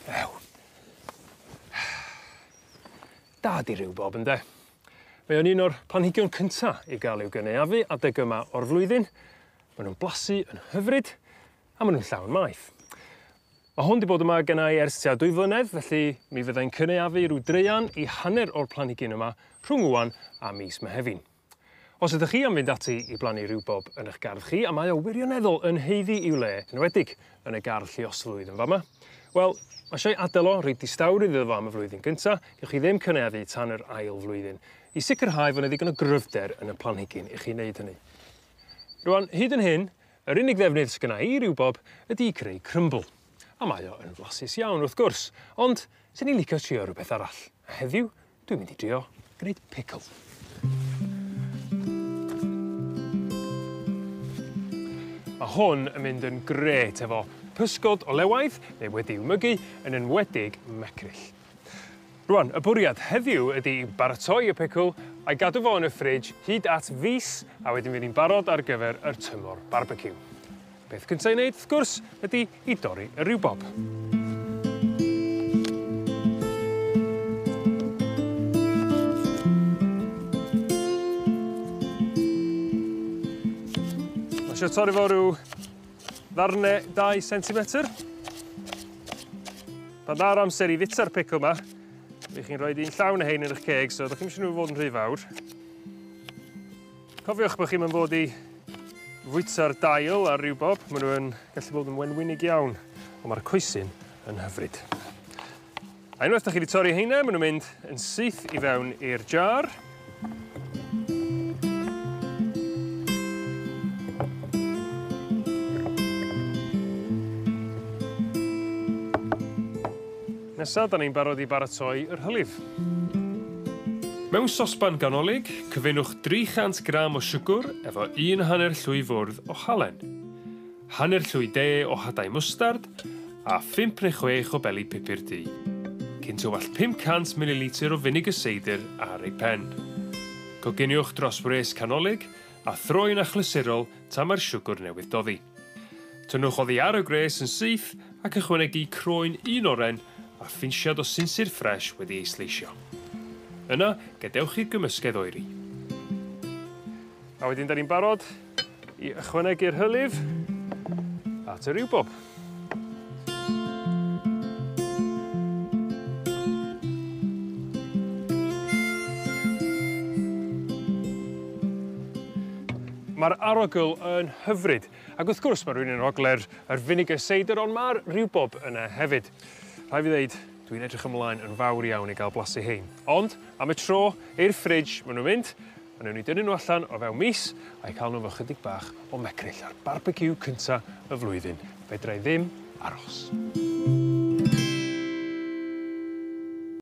Ew. Da di riwbob ynde? Mae o'n un o'r planhigion cynta i ga'l i'w gynaeafu adeg yma o'r flwyddyn ma' nw'n blasu yn hyfryd a ma' nw'n llawn maeth. Ma' hwn 'di bod yma gennai ers tua dwy flynedd felly mi fyddai'n cynaeafu rw draean i hanner o'r planhigyn yma rhwng ŵan a mis Mehefin. Os ydych chi am fynd ati i blannu riwbob yn 'ych gardd chi a mae o wirioneddol yn haeddu i'w le, enwedig yn y gardd lluoslwydd yn fa' 'ma, wel, ma' isio'i adel o, roi distawrwydd iddo fo am y flwyddyn gynta, gewch chi ddim cynaeafu tan yr ail flwyddyn, i sicrhau fo' 'ne ddigon o gryfder yn y planhigyn i chi neud hynny. Rŵan, hyd yn hyn, yr unig ddefnydd sy gynna' i i riwbob ydi i creu crymbl, a mae o yn flasus iawn, wrth gwrs, ond 'sen i'n licio trio rwbeth arall, a heddiw, Dwi'n mynd i drio gneud pickle. Ma' hwn yn mynd yn grêt efo pysgod o lewaid neu wedi'w mygu yn enwedig mecryll. Rŵan, y bwriad heddiw ydi i baratoi y pickle a'i gadw fo yn y fridge hyd at fis a wedyn fydd 'i'n barod ar gyfer yr tymor barbeciw. Peth cynta i neud wrth gwrs ydi i dorri y riwbob. Ma' isio torri fo rhyw ddarne 2 centimetr. Pan dda'r amser i fita'r pickle ma, rych chi'n rhoi un llawn o hein yn eich ceg, so ydych chi'n eisiau nhw fod yn rhy fawr. Cofiwch bo' chi'm yn fod i fwyta'r dail ar ryw bob ma' n'w yn gallu bod yn wenwynig iawn on' ma'r coesyn yn hyfryd. A unwaith 'dach chi 'di torri heina ma' n'w mynd yn syth i fewn i'r jar. Nesa 'dan ni'n barod i baratoi yr hylif. Mewn sosban ganolig, cyfunwch 300 gram o siwgwr efo un hanner llwy fwrdd o halen, hanner llwy de o hadau mwstard a phump neu chwech o beli pupur du. Cyn tywallt 500 mililitr o finegr seidr ar ei phen. Coginiwch dros wres canolig a throi'n achlysurol tan mae'r siwgwr newydd doddi. Tynnwch oddi ar y gwres yn syth ac ychwanegu croen un oren a phinsiad o sinsir ffres wedi ei sleisio. Yna, gadewch i'r gymysgedd oeri. A wedyn 'dan ni'n barod i ychwanegu'r hylif at y riwbob. Mae'r arogl yn hyfryd ac wrth gwrs mae rhywun yn arogle'r yr vinegar cider ond ma'r riwbob yna hefyd. Rhaid fi ddeud dwi'n edrych ymlaen yn fawr iawn i ga'l blasu hein. Ond am y tro i'r fridge ma' nw'n mynd a newn ni dynnu n'w allan o fewn mis a'u ca'l n'w efo chydig bach o mecryll a'r barbeciw cynta y flwyddyn. Fedrai ddim aros.